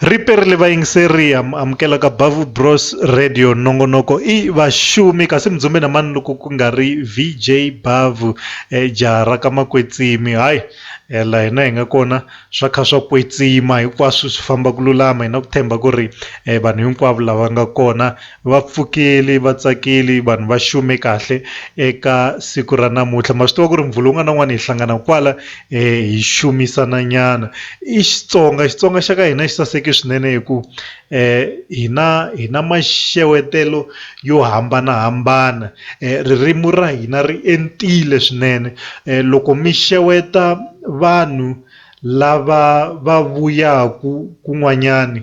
Riperile vayingiseri am amukela ka Bavu Bros Radio nongonoko i vaxumi kasi mudzumbe na mani loko ku nga ri VJ Bavu eh, jaha ra ka makwetsimi hayi eh, la hina hi nga kona swa kha swa kwetsima hinkwaswo swi famba ku lulama hi na ku themba ku ri eh, vanhu hinkwavo lava nga kona Vapfukeli, vatsakeli, vanhu va xume kahle eka siku ra namuntlha ma swi tiva ku ri muvhulu wun'wana na wun'wana hi hlangana kwala hi xumisana nyana i Xitsonga Xitsonga xa ka hina xi saseke swinene hi ku hina hi na maxewetelo yo hambanahambana ririmi ra hina ri entile swinene loko mi xeweta vanhu lava va vuyaku kun'wanyani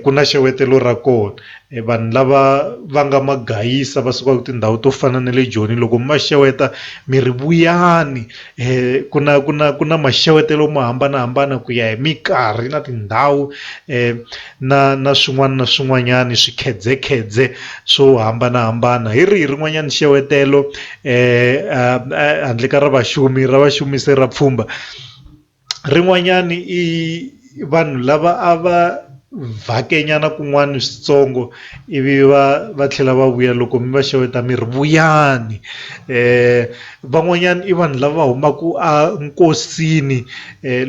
ku na xewetelo ra kona vanhu lava va nga ma gayisa va sukaku tindhawu to fana na le joni loko mi va xeweta mi ri vuyani ku na ku na ku na maxavetelo mo hambanahambana ku ya hi minkarhi na tindhawu na na swin'wana na swin'wanyani swikhedzekhedze swo hambanahambana hi rihi rin'wanyani xewetelo handle ka ra vaxumi ra vaxumi se ra pfhumba. rin'wanyani i vanhu lava a va vhake nyana kun'wani switsongo ivi va va tlhela va vuya loko mi va xeweta mi ri vuyani van'wanyani i vanhu lava humaku a nkosini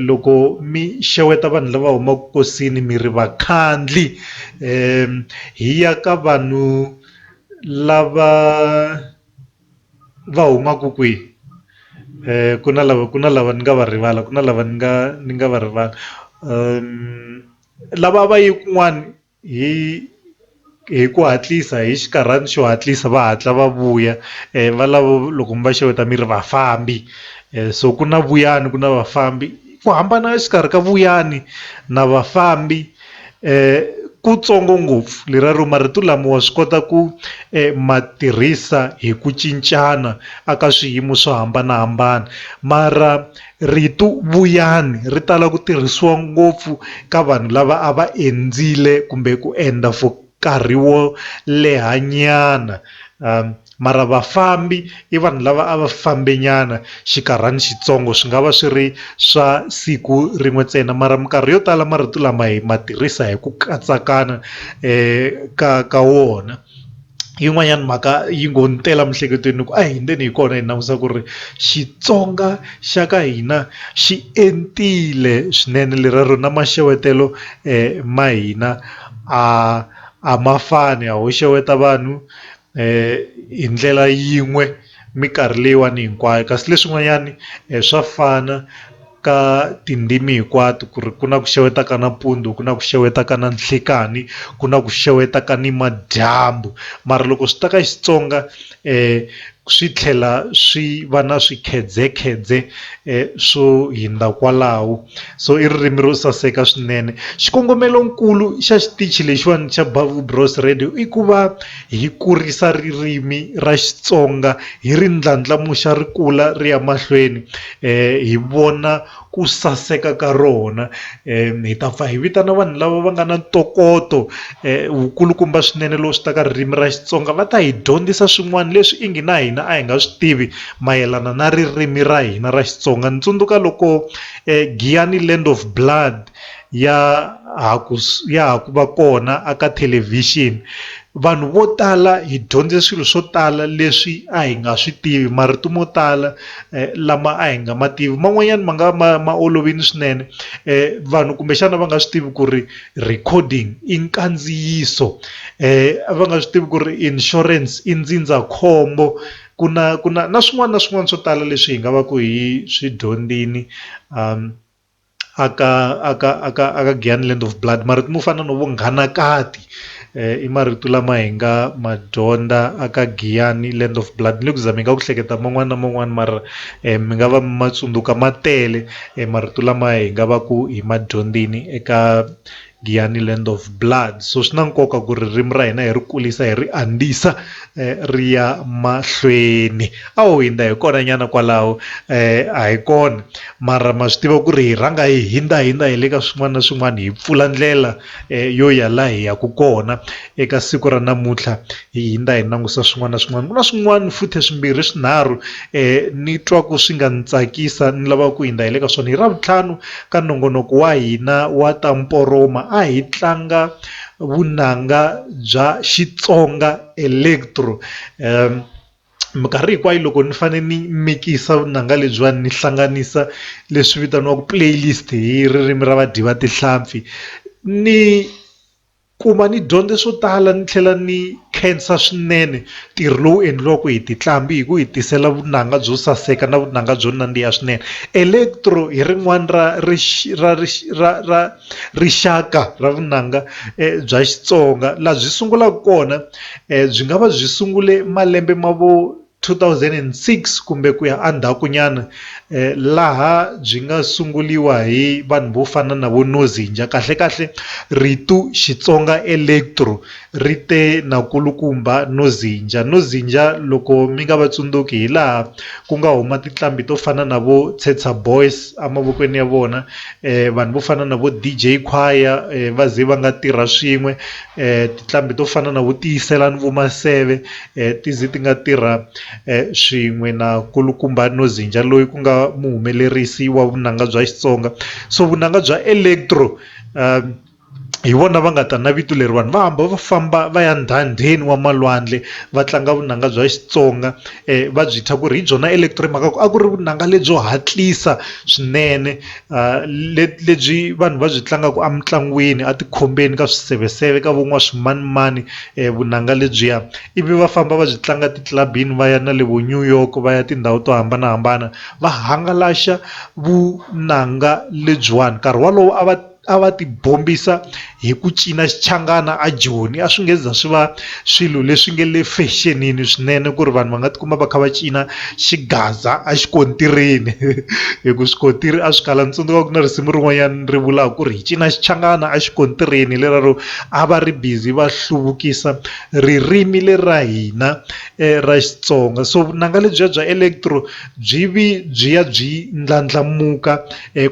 loko mi xeweta vanhu lava humaku nkosini mi ri vakhandli hi ya ka vanhu lava. va humaka kwihi ku na lava ku na lava ni nga va rivala ku na lava ni nga ni nga va rivala lava va yi kun'wani hi hi ku hatlisa hi xinkarhana xo hatlisa va hatla va vuya va lavo loko mi va xeweta mi ri vafambi so ku na vuyani ku na vafambi ku hambana exikarhi ka vuyani na vafambi. Kutsongo ngopfu, leraro marito lama wa swi kota ku ma tirhisa hi ku cincana aka swiyimo swo hambana-hambana. Mara rito vuyani ri tala ku tirhisiwa ngopfu ka vanhu lava a va endzile kumbe ku endla for. nkarhi wo leha nyana um mara vafambi i vanhu lava a va fambe nyana xikarhani xitsongo swi nga va swi ri swa siku rin'we ntsena mara minkarhi yo tala marito lama hi ma tirhisa hi ku katsakana um ka ka wona yin'wanyana mhaka yi ngo ni tela miehleketweni ni ku a hi ndzeni hi kona hi langusa ku ri Xitsonga xa ka hina xi entile swinene lera ro na maxavetelo ma hina. a a ma fani a ho xeweta vanhu hi ndlela yin'we minkarhi leyiwani hinkwayo kasi leswin'wanyani swa fana ka tindzimi hinkwato ku ri ku na ku xeweta ka nampundzu ku na ku xeweta ka na nhlikani ku na ku xeweta ka nimadyambu mara loko swi ta ka Xitsonga. swi tlhela swi va na swikhedzekhedze swo hundza kwalaho so i ririmi ro saseka swinene xikongomelo nkulu xa xitichi lexiwani xa Bavu Bros Radio i ku va hi kurisa ririmi ra Xitsonga hi ri ndlandlamuxa ri kula ri ya mahlweni hi vona. ku saseka ka rona hi ta pfa hi vitana vanhu lava va nga na ntokoto wu kulukumba swinene lowu swi ta ka ririmi ra Xitsonga va ta hi dyondzisa swin'wana leswi i ngi na hina a hi nga swi tivi mayelana na ririmi ra hina ra Xitsonga ni tsundzuka loko Giyani Land of Blood ya ha ku ya ha ku va kona a ka thelevhixini vanhu vo tala hi dyondze swilo swo tala leswi a hi nga swi tivi marito mo tala eh, lama a hi nga ma tivi man'wanyana ma nga ma ma olovini swinene eh, vanhu kumbexana va nga swi tivi ku ri recording i nkandziyiso eh, va nga swi tivi ku ri insurance i ndzindzakhombo ku na ku na na swin'wana na swin'wana swo tala leswi hi nga va ku hi swi dyondzini um aka aka aka aka Giyani Land of Blood marito mo fana no vo Nghanakati i marito lama hi nga ma dyondza aka Giyani Land of Blood ni le ku zameni ka ku hleketa man'wana na man'wana mara mi nga va mi ma tsundzuka ma tele marito lama hi nga va ku hi ma dyondzini eka. Giyani Land of Blood. So swi na nkoka ku ririmi ra hina hi ri kulisa hi ri andzisa ri ya mahlweni. A ho hindza hi kona nyana kwalaho a hi kona mara ma swi tiva ku ri hi rhanga hi hindza hindza hi le ka swin'wana na swin'wana hi pfula ndlela yo ya laha hi yaka kona. Eka siku ra namuntlha hi hindza hi langusa swin'wana na swin'wana, ku na swin'wana futhe swimbirhi swinharhu ni twa ku swi nga ni tsakisa ni lava ku hindza hi le ka swona. Hi Ravutlhanu ka nongonoko wa hina wa ta mporoma a hi tlanga vunanga bya Xitsonga Electro. Minkarhi hinkwayo loko ni fane ni mikisa vunanga lebyiwani ni hlanganisa leswi vitaniwaku playlist hi ririmi ra vadyi va tihlampfi ni. Kuma ni dyondze swo tala ni tlhela ni khensa swinene ntirho lowu endliwaka hi tintlambhi hi ku hi tisela vunanga byo saseka na vunanga byo nandziha swinene. Electro hi rin'wana ra ra ra ra rixaka ra vunanga bya Xitsonga laha byi sungulaka kona byi nga va byi sungule malembe ma vo. 2006 kumbe ku ya endzhakunyana laha byi nga sunguriwa hi vanhu vo fana na vo Nozinja. Kahle-kahle rito Xitsonga electro ri te na kulukumba Nozinja. Nozinja loko mi nga va tsundzuki hi laha ku nga huma tinqambi to fana na vo Tshetsa Boys emavokweni ya vona, vanhu vo fana na vo DJ Khwaya va ze va nga tirha swin'we, tinqambi to fana na vo Tiyiselani Vomaseve ti ze ti nga tirha swin'we na nkulukumba Nozinja loyi ku nga muhumelerisi wa vunanga bya Xitsonga so vunanga bya electro hi vona va nga ta na vito leri vanhu va hamba va famba va ya ndhandheni wa malwandle va tlanga vunanga bya Xitsonga va byi thya ku ri hi byona electro hi mhaka ku a ku ri vunanga lebyo hatlisa swinene. leti lebyi vanhu va byi tlangaka emitlangwini a tikhombeni ka swiseveseve ka van'wana swimanimani vunanga lebyiya ivi va famba va byi tlanga ti club yini va ya na le vo New York va ya tindhawu to hambanahambana va hangalasa vunanga lebyiwani nkarhi wolowo a va a va ti bombisa. hi ku cina xichangana a Joni a swi nge za swi va swilo leswi nge le fexenini swinene ku ri vanhu va nga tikuma va kha va cina xigaza a xikontirini hi ku swikontiri a swi kala ni tsundzuka ku na risimu rin'wanyana ri vulaka ku ri hi cina xichangana a xikontirini leraro a va ri busy va hluvukisa ririmi le ra hina ra Xitsonga so vunanga lebyiya bya electro byi vi byi ya byi ndlandlamuka.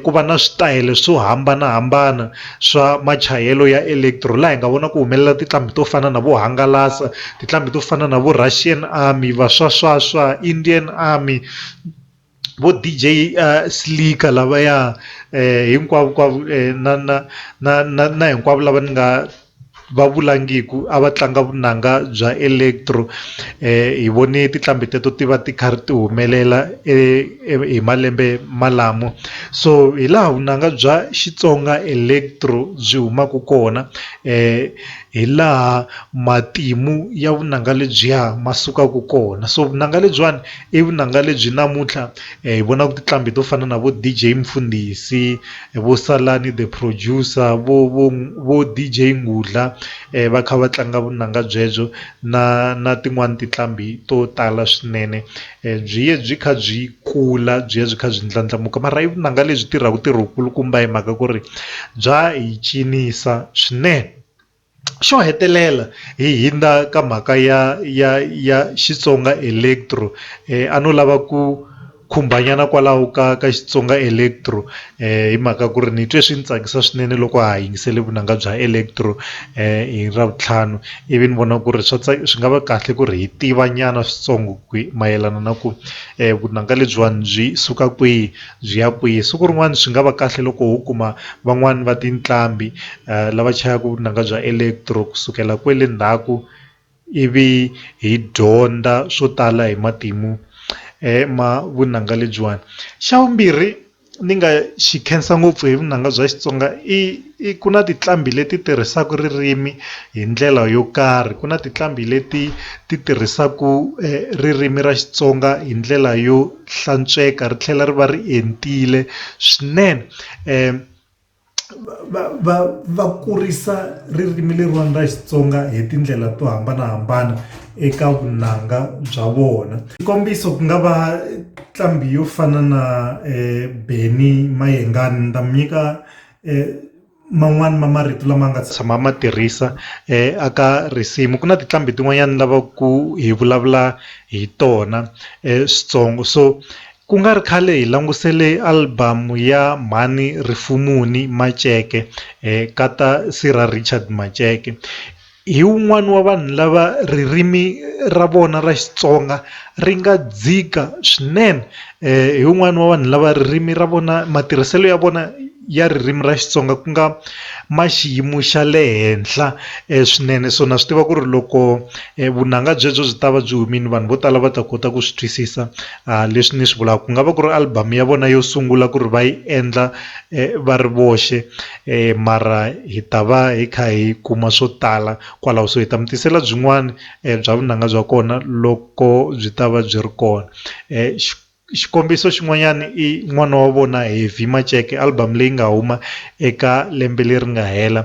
ku va na switayele swo hambanahambana swa machayelo ya electro laha hi nga vona ku humelela tinqambi to fana na vo hangalasa tinqambi to fana na vo Russian Army va swa swa swa Indian Army vo D_J Slika lavaya hinkwavo na na na na na hinkwavo lava ni nga. va vulangiku a va tlanga vunanga bya electro hi vone tinqambi teto ti va ti kha ri ti humelela e hi malembe malamo so hi laha vunanga bya Xitsonga electro byi humaka kona hi laha matimu ya vunanga lebyiya ma sukaka kona so vunanga lebyiwani i vunanga lebyi namuntlha hi vonaka tinqambi to fana na vo D_J Mfundhisi Vho Salani the producer vho vho vho DJ Ngudla va kha va tlanga vunanga byebyo na na tin'wani tinqambi to tala swinene byi ye byi kha byi kula byi ya byi kha byi ndlandlamuka mara i vunanga lebyi tirhaka ntirho wu kulukumba hi mhaka ku ri bya hi cinisa swinene. Xo hetelela hi hindza ka mhaka ya ya ya Xitsonga Electro a no lava ku khumba nyana kwalaho ka ka Xitsonga Electro hi mhaka ku ri ni twe swi ni tsakisa swinene loko ha ha yingisele vunanga bya Electro hi Ravutlhanu ivi ni vona ku ri swa swi nga va kahle ku ri hi tiva nyana switsongo ku mayelana na ku vunanga lebyiwani byi suka kwihi. Byi ya kwihi? Siku rin'wana swi nga va kahle loko ho kuma van'wana va tinqambi lava chayaka vunanga bya electro ku sukela kwale ndzhaku ivi hi dyondza swo tala hi matimu ma vunanga lebyiwani. Xa vumbirhi ni nga xi khensa ngopfu hi vunanga bya Xitsonga i i ku na tinqambi leti tirhisaka ririmi hi ndlela yo karhi, ku na tinqambi leti ti tirhisaka ririmi ra Xitsonga hi ndlela yo. hlantsweka ri tlhela ri va ri entile swinene um va va va kurisa ririmi leriwani ra Xitsonga hi tindlela to hambanahambana eka vunanga bya vona xikombiso ku nga va nqambi yo fana na um Benny Mayengani ni ta mi nyika um man'wani ma marito lama nga tshama ma tirhisa a ka risimu ku na tiqambi tin'wanyani lava ku hi vulavula hi tona switsongo so ku nga ri khale hi langusele album ya mhani Rifumuni Maceke ka ta Sir Richard Maceke. Hi un'wana wa vanhu lava ririmi ra vona ra Xitsonga ri nga dzika swinene hi un'wana wa vanhu lava ririmi ra vona matirhiselo ya vona ya ririmi ra Xitsonga ku nga ma xiyimo xa le henhla swinene so na swi tiva ku ri loko vunanga byebyo byi ta va byi humile vanhu vo tala va ta kota ku swi twisisa leswi ni swi vulaka ku nga va ku ri album ya vona yo sungula ku ri va yi endla va ri voxe. mara hi ta va hi kha hi kuma swo tala kwalaho so hi ta mi tisela byin'wana bya vunanga bya kona loko byi ta va byi ri kona xikombiso xin'wanyana i n'wana wa vona Heavy Maceke album leyi nga huma eka lembe leri nga hela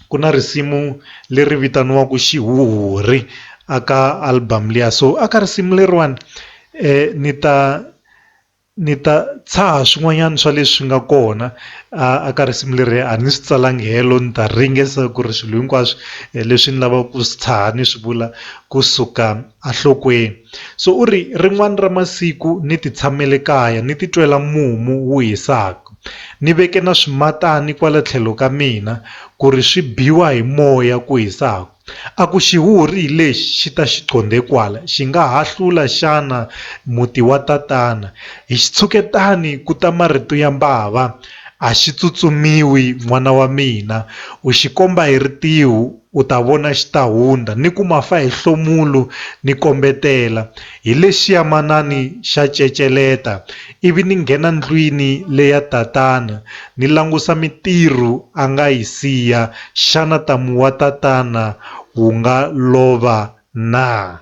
ku na risimu leri vitaniwaka xihuhuri a ka album liya so a ka risimu leriwani ni ta. Ni ta tshaha swin'wanyana swa leswi nga kona a a ka risimu leri a ni swi tsalangi helo ni ta ringesa ku ri swilo hinkwaswo leswi ni lavaka ku swi tshaha ni swi vula kusuka a nhlokweni so u ri rin'wani ra masiku ni ti tshamele kaya ni ti twela mumu wu hisaka ni veke na swimatani kwala tlhelo ka mina ku ri swi biwa hi moya ku hisaka. A ku xihuhuri hi lexi xi ta xi qondhe kwala, xi nga ha hlula xana muti wa tatana? Hi xitshuketani ku ta marito ya mbava, A xi tsutsumiwi, n'wana wa mina. U xi komba hi ritiho, u ta vona xi ta hundza, ni ku ma fa hi hlomulo ni kombetela. Hi lexiya manani xa ceceleta, ivi ni nghena ndlwini le ya tatana, ni langusa mintirho a nga yi siya, xana ntamu wa tatana wu nga lova na?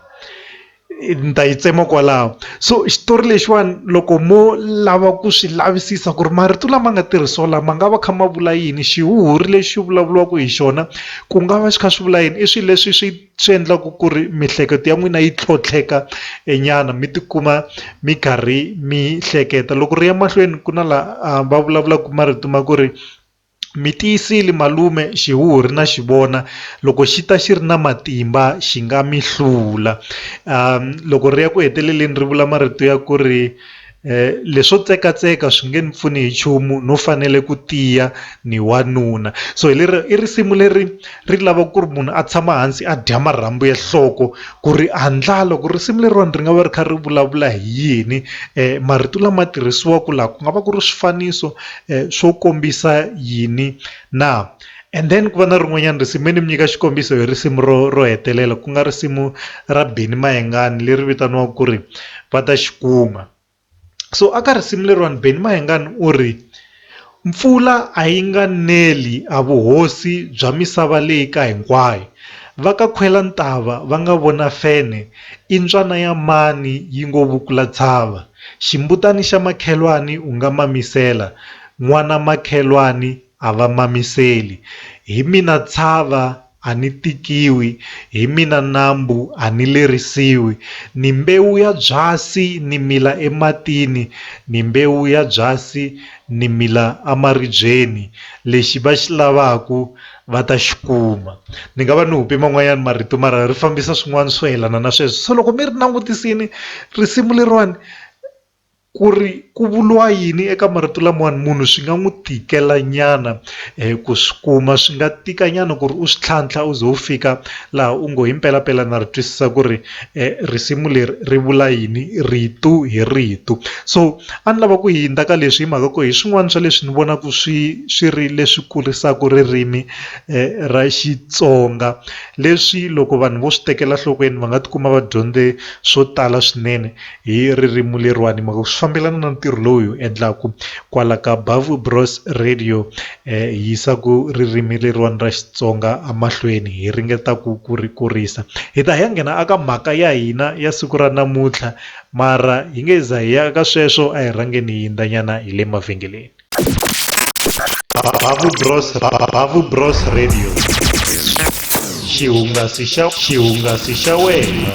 Ni ta yi tsema kwalaho. So xitori lexiwani loko mo lava ku swi lavisisa ku ri marito lama nga tirhisiwa la ma nga va kha ma vula yini, xihuhuri lexi vulavuriwaka hi xona ku nga va xi kha xi vula yini, i swilo leswi swi. swi endlaka ku ri miehleketo ya n'wina yi tlhontlheka nyana mi tikuma mi karhi mi hleketa loko ri ya mahlweni ku na la va vulavulaka marito ma ku ri mi tiyisile malume xihuhuri na xi vona loko xi ta xi ri na matimba xi nga mi hlula loko ri ya ku heteleleni ri vula marito ya ku ri. leswo tsekatseka swi nge ni pfuni hi nchumu no fanele ku tiya ni wanuna so hi leri i risimu leri ri lava ku ri munhu a tshama hansi a dya marhambu ya nhloko ku ri handla loko risimu leriwani ri nga va ri kha ri vulavula hi yini marito lama tirhisiwaka laha ku nga va ku ri swifaniso swo kombisa yini na. And then ku va na rin'wanyana risimu me ni mi nyika xikombiso hi risimu ro ro hetelela ku nga risimu ra Beni Mayengani leri vitaniwaka ku ri va ta xi kuma so aka risimu leriwani Beni Mayengani u ri mpfula a yi nga neli a vuhosi bya misava leyi ka hinkwayo va ka khwela ntava va nga vona fene i ntswana ya mani yi ngo vukula tshava ximbutani xa makhelwani u nga mamisela n'wana makhelwani a va mamiseli, hi mina tshava a ni tikiwi, hi mina nambu a ni lerisiwi, ni mbewu ya byasi ni mila ematini, ni mbewu ya byasi ni mila amaribyeni, lexi va xi lavaku va ta xi kuma. Ni nga va ni hupe man'wanyani marito mara ri fambisa swin'wani swo yelana na sweswo. So loko mi ri langutisini risimu leriwani, ku ri ku vuriwa yini eka marito lamawani munhu swi nga n'wi tikela nyana um ku swi kuma swi nga tika nyana ku ri u swi tlhantlha u ze u fika laha u ngo himpelampela na ri twisisa ku ri um risimu leri ri vula yini rito hi rito so a ni lava ku hundza ka leswi hi mhaka ku hi swin'wana swa leswi ni vonaka swi swi ri leswi kurisaka ririmi um ra Xitsonga leswi loko vanhu vo swi tekela nhlokweni va nga tikuma va dyondze swo tala swinene. Hi ririmu leriwani hi mhaka ku swi fambelana na ntirho lowu hi wu endlaku kwala ka Bavbros Radio hi yisaku ririmi leriwani ra Xitsonga a mahlweni hi ringeta ku ku ri kurisa hi ta hi ya nghena a ka mhaka ya hina ya siku ra namuntlha mara hi nge za hi ya ka sweswo a hi rhangeni hi yindza nyana hi le mavhengeleni. Bavbros Radio xihungasi xa xihungasi xa wena.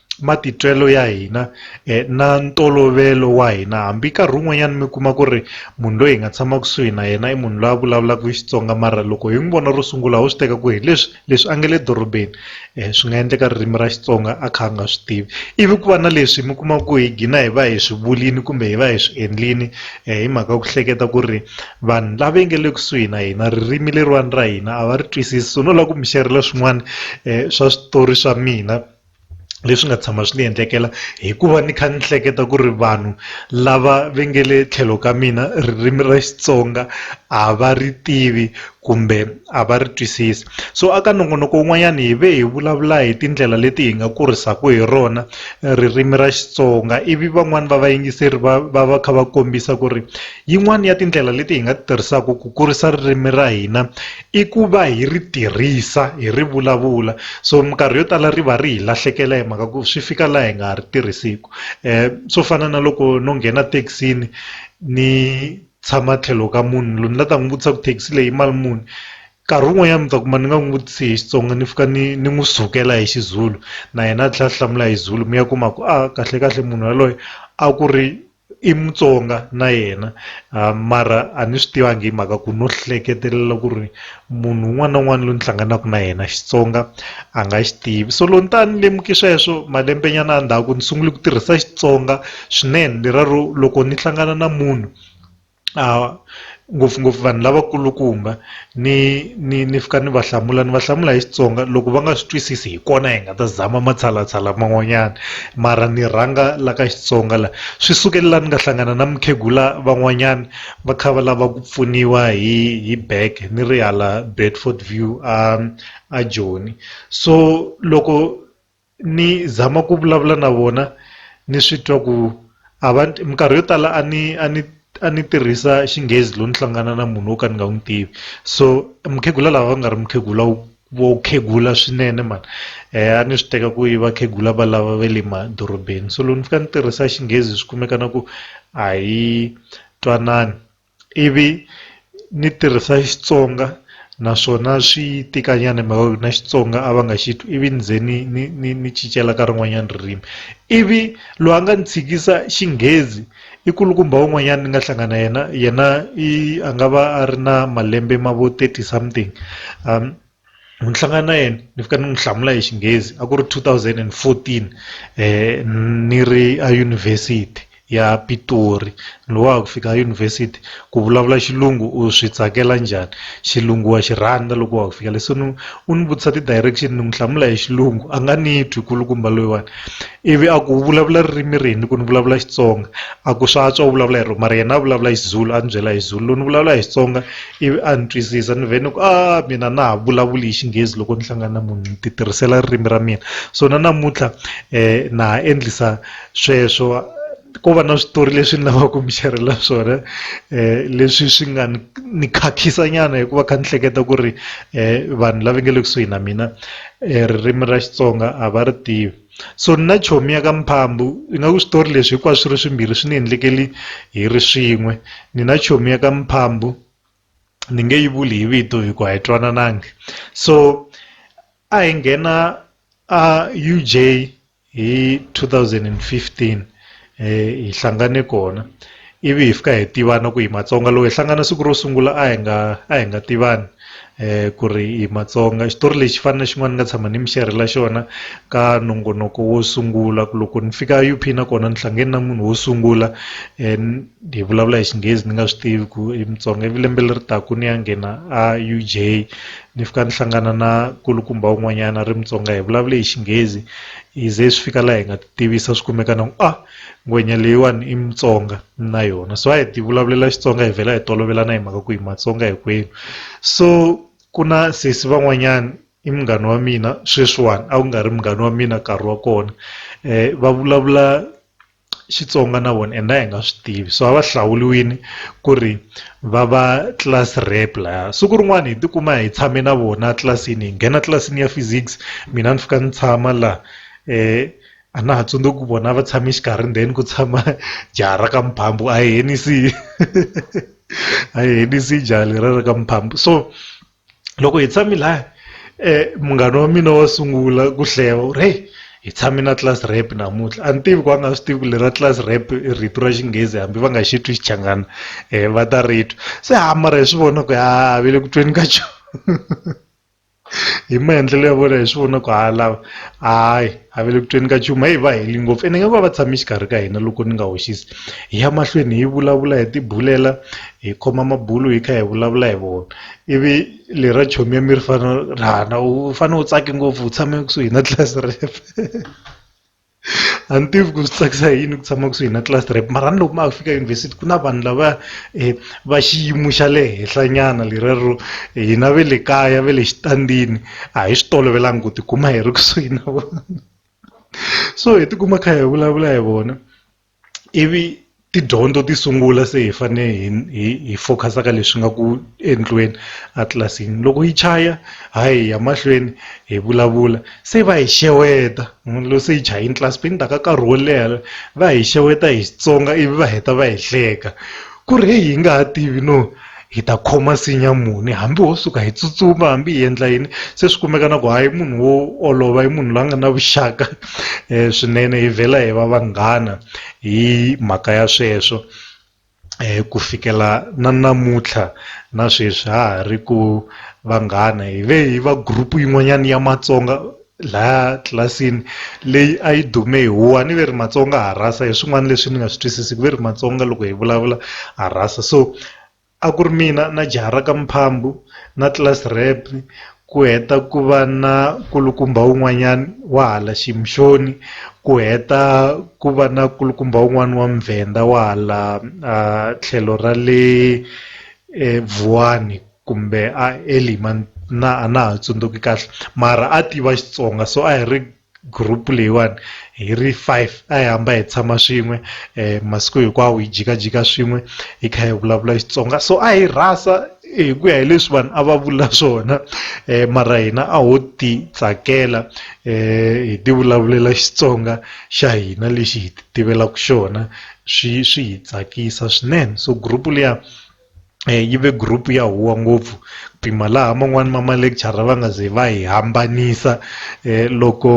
matitwelo ya hina na ntolovelo wa hina hambi nkarhi wun'wanyana mi kuma ku ri munhu loyi hi nga tshama kusuhi na yena i munhu loyi a vulavulaka Xitsonga mara loko hi n'wi vona ro sungula ho swi teka ku hi leswi leswi a nga le dorobeni swi nga endleka ririmi ra Xitsonga a kha a nga swi tivi ivi ku va na leswi mi kuma ku hi gina hi va hi swi vulini kumbe hi va hi swi endlini hi mhaka ku hleketa ku ri vanhu lava yi nga le kusuhi na hina ririmi leriwani ra hina a va ri twisisi so no lava ku mi xerhela swin'wana swa switori swa mina. leswi nga tshama swi ni endlekela hikuva ni kha ni hleketa ku ri vanhu lava va nge le tlhelo ka mina ririmi ra Xitsonga a va ri tivi kumbe a va ri twisisi so a ka nongonoko wun'wanyana hi ve hi vulavula hi tindlela leti hi nga kurisaka hi rona ririmi ra Xitsonga ivi van'wani va vayingiseri va va va kha va kombisa ku ri yin'wani ya tindlela leti hi nga ti tirhisaka ku kurisa ririmi ra hina I ku va hi ri tirhisa hi ri vulavula so minkarhi yo tala ri va ri hi lahlekela hi mhaka ku swi fika laha hi nga ha ri tirhisiku swo fana na loko no nghena thekisini ni tshama tlhelo ka munhu loyi ni la ta n'wi vutisa ku thekisi leyi mali muni nkarhi wun'wanyana mi ta kuma ni nga n'wi vutisi hi Xitsonga ni fika ni ni n'wi sukela hi xiZulu na yena a tlhela a hlamula hi Zulu mi ya kuma ku a kahle kahle munhu yaloye a ku ri. i Mutsonga na yena mara a ni swi tivangi hi mhaka ku no hleketelela ku ri munhu un'wana na un'wana loyi ni hlanganaka na yena Xitsonga a nga xi tivi so loko ni ta ni lemuke sweswo malembe nyana a ndzhaku ni sungule ku tirhisa Xitsonga swinene lero loko ni hlangana na munhu. ngopfungopfu vanhu lavakulukumba ni ni ni fika ni va hlamula ni va hlamula hi Xitsonga loko va nga swi twisisi hi kona hi nga ta zama matshalatshala man'wanyana mara ni rhanga la ka Xitsonga la swi sukela la ni nga hlangana na mukhegula van'wanyana va kha va lava ku pfuniwa hi hi back ni ri hala Bedford View a a Joni so loko. ni zama ku vulavula na vona ni swi twa ku a va minkarhi yo tala a ni a ni a ni tirhisa xinghezi loko ni hlangana na munhu wo ka ni nga n'wi tivi so mukhegula lava va nga ri mukhegula wu vo khegula swinene mhani a ni swi teka ku i vakhegula va lava va le madorobeni so loko ni fika ni tirhisa xinghezi swi kumeka na ku a hi twanani. ivi ni tirhisa Xitsonga naswona swi tika nyana mhaka ku na Xitsonga a va nga xi twi ivi ni ze ni ni ni ni cincela ka rin'wanyana ririmi ivi loyi a nga ni tshikisa Xinghezi i kulukumba wun'wanyana ni nga hlangana yena yena i a nga va a ri na malembe ma vo thirty something . ni hlangana na yena ni fika ni n'wi hlamula hi xinghezi a ku ri two thousand and fourteen ni ri a yunivhesiti ya Pitori ni wa ku fika yunivhesiti ku vulavula xilungu u swi tsakela njhani xilungu wa xi rhandza loko wa ku fika leswi ni u ni vutisa ti-direction ni n'wi hlamula hi xilungu a nga ni twi kulukumba loyiwani ivi a ku vulavula ririmi rini ku ni vulavula Xitsonga a ku swa antswa u vulavula hi ro mara yena a vulavula Xizulu a ni byela hi Zulu loko ni vulavula hi Xitsonga. ivi a ni twisisa ni vhe ni ku a mina na ha vulavuli hi xinghezi loko ni hlangana na munhu ni ti tirhisela ririmi ra mina so na namuntlha um na ha endlisa sweswo ko va na switori leswi ni lavaka ku mi xerhela swona um leswi swi nga ni ni khakhisa nyana hikuva kha ni hleketa ku ri um vanhu lava nge le kusuhi na mina um ririmi ra xitsonga a va ri tivi So nina chomi ya ka Mphambu, ingaku switori leswi hinkwaswo swi ri swimbirhi swi ni endlekeli hi ri swin'we. Nina chomi ya ka Mphambu ni nge yi vuli hi vito hi ku a hi twananangi. So a hi nghena a UJ hi 2015 hi hlangane kona ivi hi fika hi tivana ku hi matsonga loko hi hlangana siku ro sungula a hi nga a hi nga tivani ku ri hi matsonga xitori lexi fana na xin'wana ni nga tshama ni mi xerhela xona ka nongonoko wo sungula ku loko ni fika U_P na kona ni hlangane na munhu wo sungula hi vulavula hi xinghezi ni nga swi tivi ku i mutsonga ivi lembe leri taka ni ya nghena a U_J ni fika ni hlangana na nkulukumba wun'wanyana a ri mutsonga hi vulavule hi xinghezi hi ze swi fika laha hi nga tivisa swi kumeka na ku a ah, ngwenya leyiwani i mutsonga na yona so a hi ti vulavulela xitsonga hi vhela hi tolovelana hi mhaka ku hi matsonga hinkwenu so ku na sesi van'wanyana i munghana wa mina sweswiwani a ku nga ri munghana wa mina nkarhi wa kona um va vulavula xitsonga na vona and a hi nga swi tivi so a va hlawuliwini ku ri va va class rep laya siku rin'wana hi tikuma hi tshame na vona tlilasini hi nghena tlilasini ya physics mina ni fika ni tshama laha a na ha tsundzuki ku vona va tshame xikarhi ndzeni ku tshama jaha ra ka mphambo a hi henisi a hi henisi jaha leriya ra ka mphambo so loko hi tshame laya munghana wa mina wo sungula ku hlaya u ri heyi hi tshame na class rep namuntlha a ni tivi ku a nga swi tivi ku leri ra class rep i rito ra xinghezi hambi va nga xi twi xichangana va ta ri twa se ha mara hi swi vona ku ha ha ve le ku tweni ka xona. hi maendlelo ya vona hi swi vona ku ha lava hayi a va le ku tweni ka nchumu heyi va heli ngopfu ene nga va va tshame exikarhi ka hina loko ni nga hoxisi hi ya mahlweni hi vulavula hi tibulela hi khoma mabulo hi kha hi vulavula hi vona ivi lera chomi ya mi ri fana ra na u fane u tsake ngopfu u tshame kusuhi na tlilasi ref. a ni tivi ku swi tsakisa hi yini ku tshama kusuhi na class rep mara ni loko ma ha fika yunivhesiti ku na vanhu lava um va xiyimo xa le henhlanyana leriya ro hina ve le kaya ve le xitandini a hi swi tolovelanga ku tikuma hi ri kusuhi na vona so hi tikuma kha hi vulavula hi vona. ivi tidyondzo ti sungula se hi fane hi hi hi focus-a ka leswi nga ku endliweni a tlilasini loko yi chaya hayi hi ya mahlweni hi vulavula se va hi xeweta munhu loyi se yi chayini tlilasi ni ta ka nkarhi wo leha va hi xeweta hi Xitsonga ivi va heta va hi hleka. Ku ri heyi hi nga ha tivi no hi ta khoma nsinya muni hambi ho suka hi tsutsuma hambi hi endla yini se swi kumeka na ku hayi i munhu wo olova i munhu la nga na vuxaka swinene hi vhela hi va vanghana hi mhaka ya sweswo ku fikela na namuntlha na sweswi ha ha ri ku vanghana hi ve hi va group yin'wanyana ya Matsonga laha tlilasini leyi a yi dume hi huwa ni ve ri matsonga ha rhasa hi swin'wana leswi ni nga swi twisisiku ve ri matsonga loko hi vulavula ha rhasa so a ku ri mina na jaha ra ka mphambu na tlilasi rep ku heta ku va na kulukumba wun'wanyani wa hala ximixoni ku heta ku va na kulukumba wun'wani wa muvhenda wa hala tlhelo ra le vuwani. kumbe a eli man na a na ha tsundzuki kahle mara a tiva Xitsonga so a hi ri group leyiwani hi ri five a hi hamba hi tshama swin'we um masiku hinkwawo hi jikajika swin'we hi kha hi vulavula Xitsonga so a hi rhasa hi ku ya hi leswi vanhu a va vula swona um mara hina a ho ti tsakela um hi ti vulavulela Xitsonga xa hina lexi hi ti tivelaka xona swi swi hi tsakisa swinene so group liya. yi ve group ya huwa ngopfu ku pima laha man'wani ma ma lecture va nga ze va hi hambanisa loko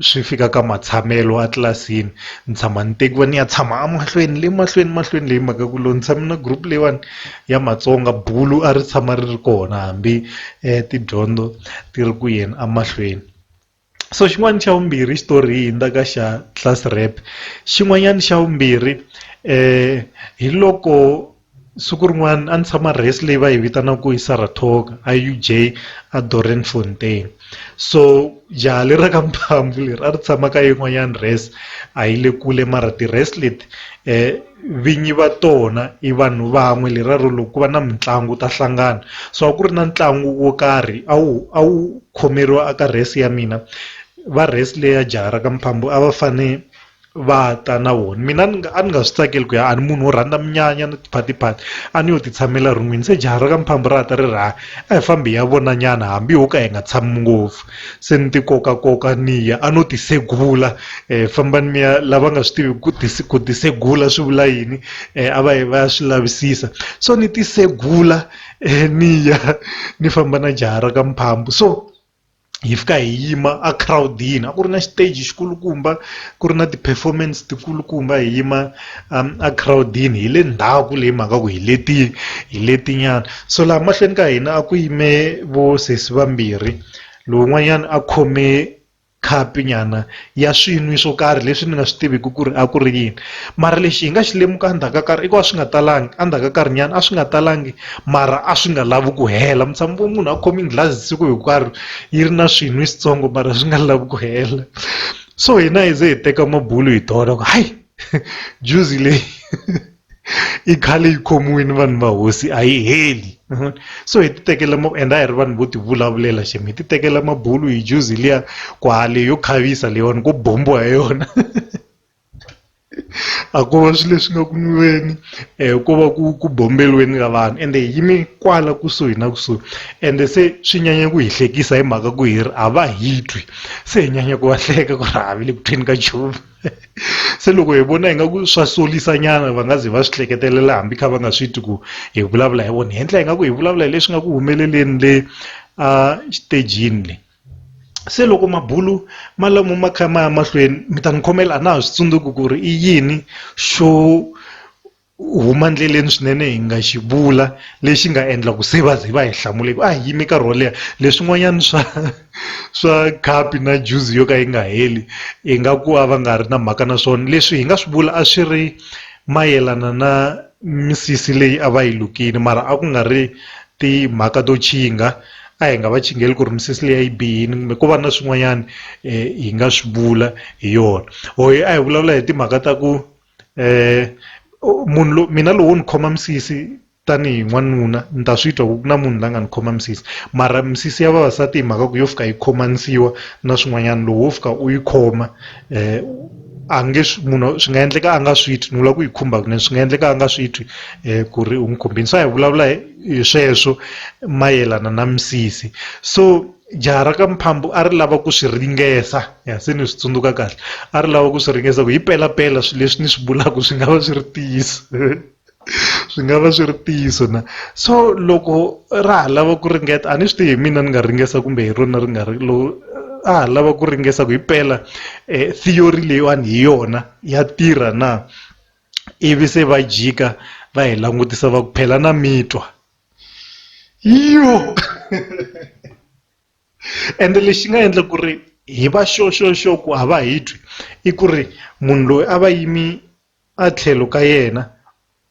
swi fika ka matshamelo a tlilasini ni tshama ni tekiwa ni ya tshama a mahlweni le mahlweni mahlweni leyi mhaka ku loko ni tshame na group leyiwani ya Matsonga bulo a ri tshama ri ri kona hambi tidyondzo ti ri ku yeni a mahlweni. so xin'wana xa vumbirhi xitori hi hundza ka xa class rep xin'wanyana xa vumbirhi um hi loko siku rin'wana a ni tshama race leyi va yi vitanaka yi saratoga a u j a doreen fontein so jaha le ra ka mphamvu leri a ri tshama ka yin'wanyana race a yi le kule mara ti-race leti um vinyi va tona i vanhu van'we leraro loko ku va na mitlangu wu ta hlangana so a ku ri na ntlangu wo karhi a wu a wu khomeriwa a ka rest ya mina va rest leyi ya jaha ra ka Mphambo a va fane va ta na vona mina ni nga a ni nga swi tsakeli ku ya a ni munhu wo rhandza munyanya ni tiphati phati a ni yo ti tshamela ron'wini se jaha ra ka Mphambo ra ta ri ra a hi fambi hi ya vona nyana hambi ho ka hi nga tshami ngopfu. se ni ti koka koka ni ya a no ti segula fambani mi ya lava nga swi tivi ku ti ku ti segula swi vula yini a va yi va ya swi lavisisa so ni ti segula ni ya ni famba na jaha ra ka mphambu so hi fika hi yima a crowd-ini a ku ri na xiteji xi kulukumba ku ri na ti-performance ti kulukumba hi yima. um egirawudini hi le ndzhaku leyi mhaka ku hi leti hi letinyana so laha mahlweni ka hina a ku yime vo sesi vambirhi lowun'wanyana a khome khapi nyana ya swinwi swo karhi leswi ni nga swi tiviki ku ri a ku ri yini mara lexi hi nga xi lemuka endzhaku ka karhi i ku a swi nga talangi endzhaku ka karhi nyana a swi nga talangi mara a swi nga lavi ku hela mi tshama vo munhu a khome nghilazi siku hinkwaro yi ri na swinwi switsongo mara swi nga lavi ku hela so hina hi ze hi teka mabulo hi tona ku hayi juzi leyi i khale yi khomiwini vanhu va hosi a yi heli so hi ti tekela and a hi ri vanhu vo ti vulavulela xi mi hi ti tekela mabulu hi juzi liya kwale yo khavisa leyiwani ko bombiwa hi yona a ko va swilo leswi nga ku nwiweni um ko va ku ku bombeliweni ka vanhu ende hi yime kwala kusuhi na kusuhi ende se swi nyanya ku hi hlekisa hi mhaka ku hi ri a va hi twi se hi nyanya ku va hleka ku ri havi le ku tweni ka nchumu se loko hi vona ingaku swa solisa nyana va nga ze va swi hleketelela hambi kha va nga swi twi ku hi vulavula hi vona hi endla ingaku hi vulavula hi leswi nga ku humeleleni le a xitejini le se loko mabulu ma lamo ma kha ma ya mahlweni mi ta ni khomela a na ha swi tsundzuki ku ri i yini xo huma ndleleni swinene hi nga xi vula lexi nga endla ku se va ze va hi hlamule ku a hi yime nkarhi wo leha leswin'wanyana swa swa khapi na juzi yo ka yi nga heli hi nga ku a va nga ri na mhaka na swona leswi hi nga swi vula a swi ri mayelana na misisi leyi a va yi lukile mara a ku nga ri timhaka to nkingha a hi nga va chingele ku ri misisi leyi a yi bihile kumbe ko va na swin'wanyana hi nga swi vula hi yona or a hi vulavula hi timhaka ta ku munhu lo mina lowo ni khoma misisi tanihi n'wanuna ni ta swi twa ku na munhu la nga ni khoma misisi mara misisi ya vavasati hi mhaka ku yo fika yi khomanisiwa na swin'wanyana lowu wo fika u yi khoma a nge swi munhu swi nga endleka a nga swi twi ni vula ku yi khumba kunene swi nga endleka a nga swi twi ku ri u n'wi khumbini se a hi vulavula hi sweswo mayelana na misisi so. jaha ra ka Mphambu a ri lava ku swi ringesa ya se ni swi tsundzuka kahle a ri lava ku swi ringesa ku hi pela pela swilo leswi ni swi vulaka swi nga va swi ri ntiyiso swi nga va swi ri ntiyiso na so loko ra ha lava ku ringeta a ni swi tivi hi mina ni nga ringesa kumbe hi rona ri nga ri lo a ha lava ku ringesa ku hi pela theory leyiwani hi yona ya tirha na ivi se va jika va hi langutisa va ku phela na mitwa. yo ende lexi nga endla ku ri hi va sure sure sure ku a va hi twi i ku ri munhu loyi a va yimi a tlhelo ka yena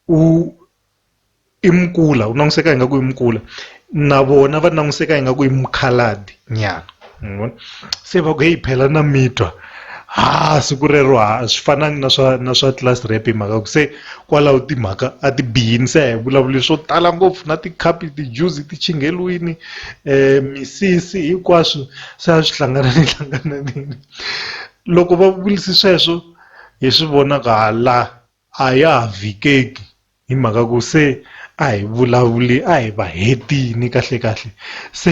u i mukula u langutiseka ingaku i mukula na vona va langutiseka ingaku i mukhalabye nyana ngibona se va ku heyi phela na mitwa ha siku rero ha swi fanangi na swa na swa class rep hi mhaka ku se kwalaho timhaka a ti bihini se hi vulavuli swo tala ngopfu na tikhapi ti-juice ti chingheriwini um misisi hinkwaswo se a swi hlanganani hlangananini loko va vurise sweswo hi swi vona ku ha la a ya ha vikeki hi mhaka ku se a hi vulavuli a hi va hetini kahle kahle se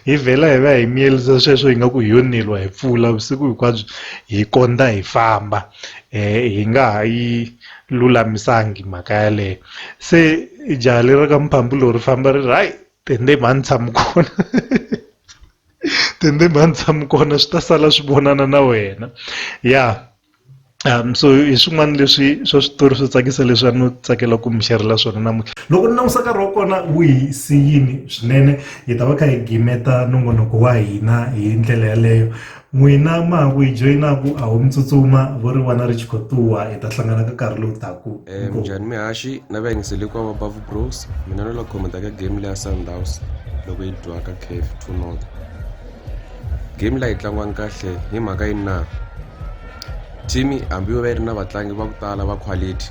hi vhela hi va hi miyelisa sweswo hi nga ku hi yo neliwa hi pfula vusiku hinkwabyo hi kondza hi famba hi nga ha yi lulamisangi mhaka yaleyo se jaha leri ka mphambulo ri famba ri ri hayi tende mhani tshama kona tende mhani tshama kona swi ta sala swi vonana na wena ya. so hi swin'wana leswi swa switori swo tsakisa leswi a no tsakela ku mi xerhela swona namuntlha loko ni langusa nkarhi wa kona wu hi siyini swinene hi ta va kha hi gimeta nongonoko wa hina hi ndlela yaleyo n'wina ma ha ku hi joyinaku a wu mi tsutsuma vo ri vana ri chikotuwa hi ta hlangana ka nkarhi lowu taku eh, minjhani mihaxi na vayingiseli kwa va bavu bros mina no la khomenta ka game leya sundhouse loko yi dyiwaka cave two not game leyi tlangiwanga kahle hi mhaka yini na team hambi yo va yi ri na vatlangi va ku tala va quality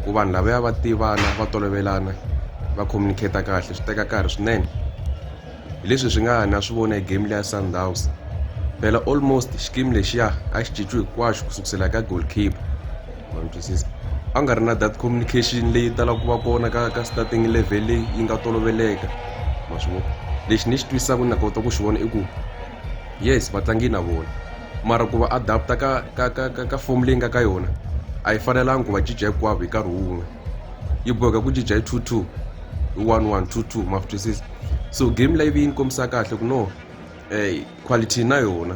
ku vanhu lava ya va tivana va tolovelana va communicate kahle swi teka nkarhi swinene hi leswi swi nga ha na swi vona hi game leya sundowns phela almost xikimi lexiya a xi cinciwi hinkwaxo ku sukusela ka goalkeeper a nga ri na that communication leyi talaka ku va kona ka ka starting level leyi yi nga toloveleka ma swi vona lexi ni xi twisaka na kota ku xi vona i ku yes vatlangi na vona mara ku va adapta ka ka ka ka ka fomu leyi nga ka yona a yi fanelanga ku va cinca hinkwavo hi nkarhi wun'we yi boheka ku cinca hi two two hi one one two two ma twisisa so game live yi ni kombisa kahle ku no um quality na yona